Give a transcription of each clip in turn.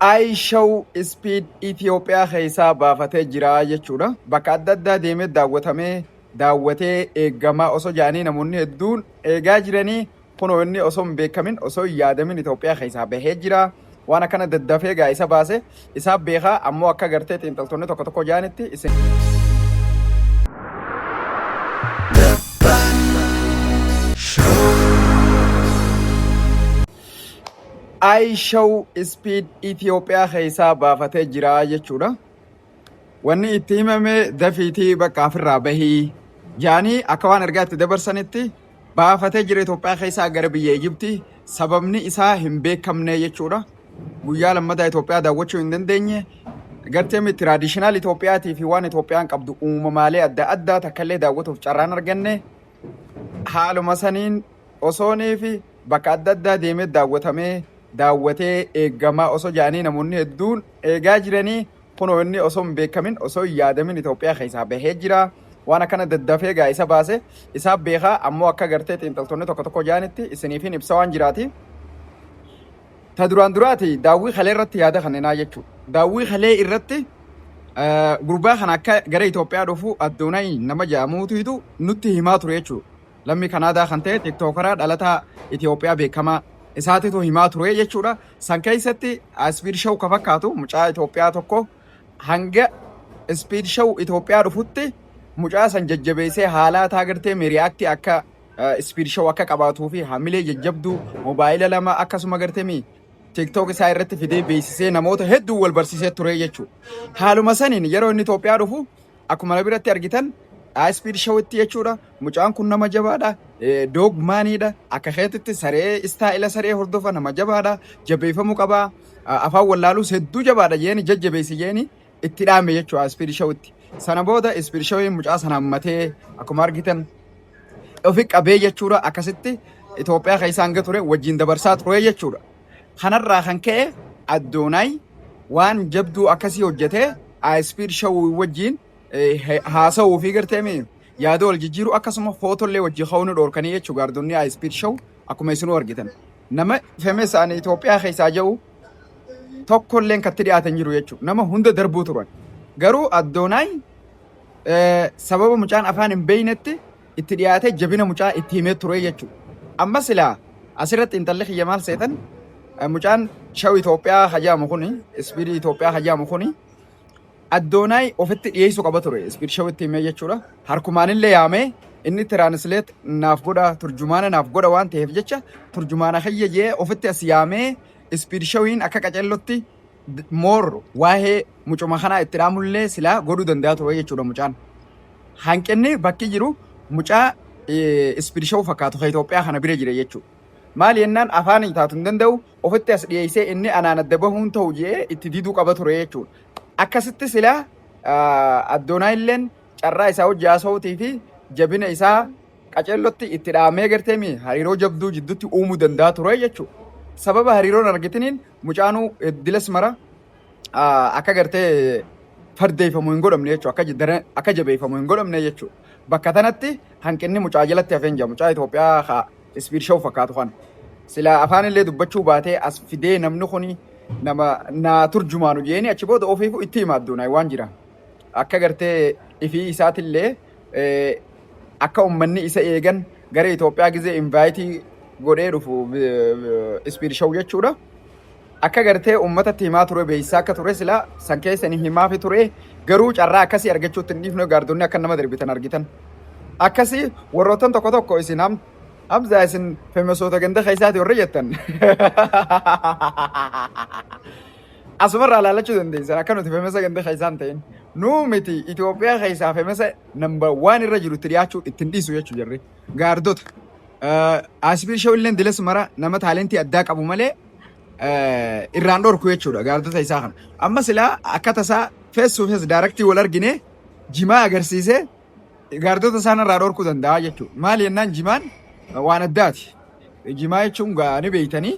iShow Speed Itoophiyaa keessaa baafatee jira jechuudha. Bakka adda addaa deemee daawwatamee daawwatee eegamaa osoo jedhanii namoonni hedduun eegaa jiranii kunoo inni osoo hin beekamin osoo hin yaadamin Itoophiyaa keessaa bahee jira. Waan akkana daddafee gaa isa baase isaa beekaa ammoo akka gartee xiinxaltoonni tokko tokko jedhanitti isin Show. iShow Speed Itoophiyaa keessaa baafatee jira jechuudha. Wanni itti himame dafiitii bakka ofirraa bahii jaanii akka waan ergaa itti dabarsanitti baafatee jira Itoophiyaa keessaa gara biyya Ijibtii sababni isaa hin beekamne jechuudha. Guyyaa lammataa Itoophiyaa daawwachuu hin dandeenye. Gartee miti tiraadishinaal Itoophiyaatii fi waan Itoophiyaan qabdu uumamaalee adda addaa takka illee daawwatuuf carraan arganne. Haaluma saniin Osoo Neefi bakka adda addaa deemee daawwatamee daawwatee eegamaa osoo jedhanii namoonni hedduun eegaa jiranii kunoo inni osoo hin beekamin osoo hin yaadamin Itoophiyaa keessaa bahee jira. Waan akkana daddafee egaa isa baase isaa beekaa ammoo akka gartee xiinxaltoonni tokko tokko jedhanitti isiniifin ibsa waan jiraati. Ta duraan duraati daawwii kalee irratti yaada kenninaa jechuudha. Daawwii kalee irratti eh, gurbaa kana akka gara Itoophiyaa dhufu Addoonayi nama jedhamuutu nutti himaa ture jechuudha. Lammii Kanaadaa kan ta'e Tiktookaraa dhalataa Itiyoophiyaa beekamaa isaatitu himaa ture jechuudha. San keessatti Ispiid Show ka fakkaatu mucaa Itiyoophiyaa tokko hanga Ispiid Show Itiyoophiyaa dhufutti mucaa san jajjabeessee haalaa taa gartee miriyaaktii akka Ispiid Show akka qabaatuu fi hamilee jajjabduu moobaayila lama akkasuma gartee mi TikTok isaa irratti fidee beeksisee namoota hedduu wal barsiisee ture jechuudha. Haaluma saniin yeroo inni Itoophiyaa dhufu Akkuma na biratti argitan Speed Show itti jechuudha. Mucaan kun nama jabaadha. Doog maaniidha. Akka keetitti saree istaa'ila saree hordofa nama jabaadha. Jabeeffamuu qaba. Afaan wallaalus hedduu jabaadha jeeni jajjabeessi jeeni itti dhaame jechuudha Speed Show itti. Sana booda Speed Show mucaa sana hammatee akkuma argitan ofi qabee jechuudha akkasitti Itoophiyaa keessa hanga ture wajjin dabarsaa ture jechuudha. Kanarraa kan ka'e Addoonaay waan jabduu akkasii hojjetee Ayispiid Shawwii wajjin haasa'uu fi garteemi yaada wal jijjiiru akkasuma footollee wajjin ka'uu ni dhoorkanii jechuudha gaardonni Ayispiid Shaw akkuma isinuu argitan. Nama femes ani Itoophiyaa keessaa jiru tokkolleen katti dhiyaatan jiru jechuudha. Nama hunda darbuu turan. Garuu Addoonaay sababa mucaan afaan hin beeynetti itti dhiyaatee jabina mucaa itti himee ture jechuudha. Amma silaa asirratti intalli kiyya maal seetan mucaan shaw Itoophiyaa hajaamu kuni ispiidii Itoophiyaa hajaamu kuni addoonaay ofitti dhiyeessu qaba ture ispiid shawitti himee jechuudha. Harkumaanillee yaamee inni tiraansileet naaf godha turjumaana naaf godha waan ta'eef jecha turjumaana kiyya jee ofitti as yaamee ispiid shawiin akka qacellotti more waa'ee mucuma kanaa itti dhaamullee silaa godhuu danda'a ture jechuudha mucaan. Hanqinni bakki jiru mucaa ispid show fakkaatu ka Itoophiyaa kana bira jira jechuudha. Maali jennaan afaanii taatu hin danda'u ofitti as dhiyeessee inni anaan adda bahuun ta'u jedhee itti diduu qaba ture jechuudha. Akkasitti silaa addoonaayilleen carraa isaa hojii haasa'uutii fi jabina isaa Qaceellotti itti dhaamee gartee mi hariiroo jabduu jiddutti uumuu danda'a ture jechuu. Sababa hariiroon argitiniin mucaanuu dilas mara akka gartee fardeeffamu hin godhamne jechuu akka dara akka jabeeffamu hin godhamne jechuu. Bakka tanatti hanqinni mucaa jalatti hafeen jira mucaa Itoophiyaa ka isbiir sha'u fakkaatu kana. Sila afaan illee dubbachuu baatee as fidee namni kuni nama naa turjumaanu jeeni achi booda ofiifu itti hima adduunaa waan jira. Akka gartee ifii isaatillee akka ummanni isa eegan gara Itoophiyaa gizee invaayitii godhee dhufu ispiid shaw jechuudha. Akka gartee ummatatti himaa ture beeksisaa akka ture sila san keessa ni himaafi ture garuu carraa akkasii argachuutti hin dhiifne gaardonni akka nama darbitan argitan. Akkasii warroottan tokko tokko isin ham hamzaa isin femesoota ganda keessaati warri jettan. Asumarraa laalachuu dandeessan akka nuti femesa ganda keessaa hin ta'in. Nuu miti Itoophiyaa keessaa femesa namba waan irra jiru itti dhiyaachuu ittiin dhiisu jechuu jirri. Gaardota. Asbiir shawilleen dilas mara nama taalentii addaa qabu malee eh, irraan dhorku jechuudha gaardota isaa kana. Amma silaa akka tasaa fees to fees daaraktii wal argine jimaa agarsiisee gaardota isaan irraa dhorkuu danda'a jechuudha. Maali jennaan jimaan waan addaati. Jimaa jechuun gaa ni beektanii.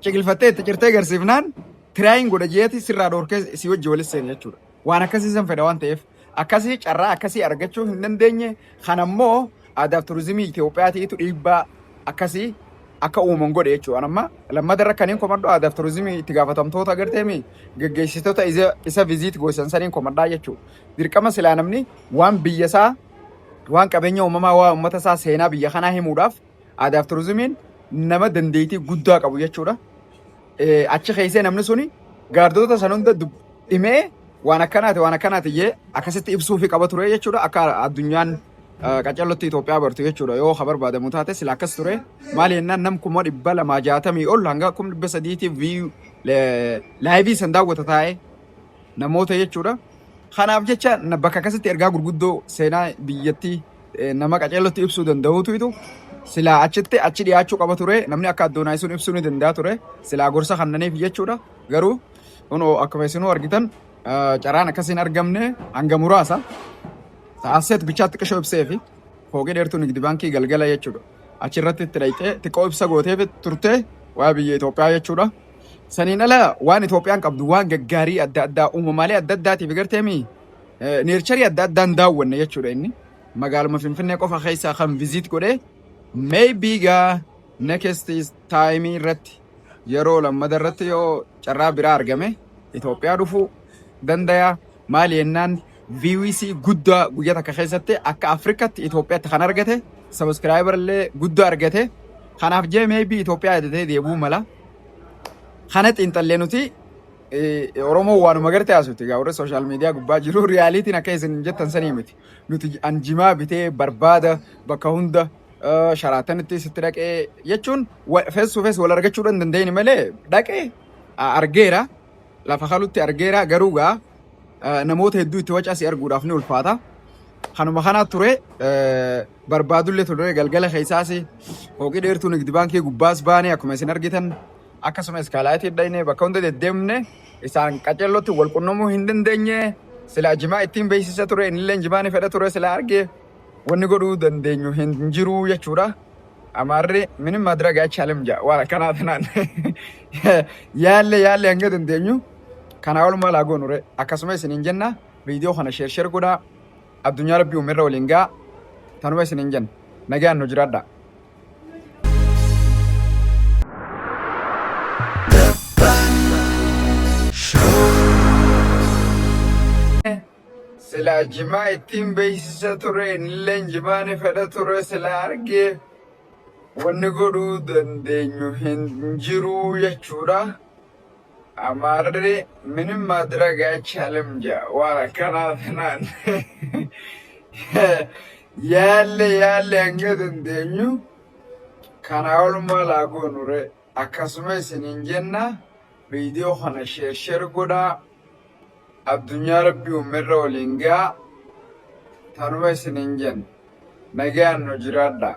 ciqilfattee itti cirtee garsiifnaan tiraayin godha jeeti sirraa dhorkee si wajji walis seena jechuudha. Waan akkasii san fedha waan ta'eef akkasii carraa akkasii argachuu hin dandeenye kan ammoo aadaaf turizimii Itoophiyaatiitu dhiibbaa akkasii akka uuman godhe jechuudha. Amma lammata irra kanneen komadhu aadaaf turizimii itti gaafatamtoota agarteemi geggeessitoota isa isa viziit goosisan saniin komadhaa jechuudha. Dirqama silaa namni waan biyya isaa waan qabeenya uumamaa waa uummata isaa seenaa biyya kanaa himuudhaaf Aadaa fi turizimiin nama dandeettii guddaa qabu jechuudha. Eh, Achi keessee namni suni gaardota san hunda dub- dhimee waan akkanaati waan akkanaati jee akkasitti ibsuu fi qaba ture jechuudha. Akka addunyaan eh, qaccallootti Itoophiyaa bartu jechuudha. Yoo ka barbaadamu taate sila akkas ture. Maali jennaan nam kuma dhibba lamaa jaatamii ol hanga kuma dhibba sadiitiif viiyuu laayivii san daawwata taa'ee namoota jechuudha. Kanaaf jecha na- bakka akkasitti ergaa gurguddoo seenaa biyyattii eh, nama qaceellotti ibsuu danda'uutu itu silaa achitti achi dhiyaachuu qaba ture namni akka addoonaay sun ibsuu ni danda'a ture silaa gorsa kannaniif jechuudha garuu kunoo akkuma isinuu argitan eh, carraan akkasii hin argamne hanga muraasa ta'asseet bichaatti qishoo ibsee fi fooqii dheertuu nigdi baankii galgala jechuudha achirratti itti dhayxee xiqqoo ibsa gooteef turte waa biyya Itoophiyaa jechuudha. Saniin ala waan Itoophiyaan qabdu waan gaggaarii adda addaa uumamaalee adda addaatiif garteemii neercharii adda addaan daawwanne jechuudha inni. Magaaluma Finfinnee qofa keessaa kan viziit godhee maybe gaa next time irratti yeroo lammada irratti yoo carraa biraa argame Itoophiyaa dhufuu dandayaa maali jennaan VWC guddaa guyyaa takka keessatti akka Afrikaatti Itoophiyaatti kan argate sabiskiraayibar illee guddaa argate kanaaf jee maybe Itoophiyaa yadatee deebuu mala kana xiinxallee nuti eh, Oromoo waanuma garte haasofti. Egaa warri sooshaal miidiyaa gubbaa jiru riyaaliitiin akka isin jettan sanii miti. Nuti an jimaa bitee barbaada bakka hunda eh, sharaatanitti sitti dhaqee jechuun fees to fees wal argachuu dhan dandeenye malee dhaqee ah, argeera lafa kalutti argeera garuu gaa eh, namoota hedduu itti wacaa si arguudhaaf ni ulfaata. Kanuma kanaa ture eh, barbaadullee ture galgala keessaas hooqii dheertuu nigdi baankii gubbaas baanee akkuma isin argitan Akkasuma iskaalaayitii dhaynee bakka hunda deddeemne isaan qaceellotti wal qunnamuu hin dandeenye silaa jimaa ittiin beeksisa ture innilleen jimaa ni fedha ture silaa arge wanni godhuu dandeenyu hin jiru jechuudha. Amaarri minim madrag aychaalim jedha waan akkanaa tanaan yaalle yaalle hanga dandeenyu kanaa ol maal haa goonure akkasuma isiniin jenna viidiyoo kana sheer sheer godhaa addunyaa rabbii uumerra waliin ga'a tanuma isiniin jenna nagaan nu jiraadhaa. Silaa jimaa ittiin beeksisa ture innilleen jimaani fedha ture silaa argee wanni godhuu dandeenyu hin jiruu jechuudha. Amaarri minim maadirag aychaalim ja waan akkanaa tanaan yaalle yaalle hanga dandeenyu kanaa ol maal haa goonure akkasuma isiniin jenna viidiyoo kana sheer sheer godhaa addunyaa rabbii uumerra waliin gaa tanuma isiniin jenna nagaan nu jiraadhaa.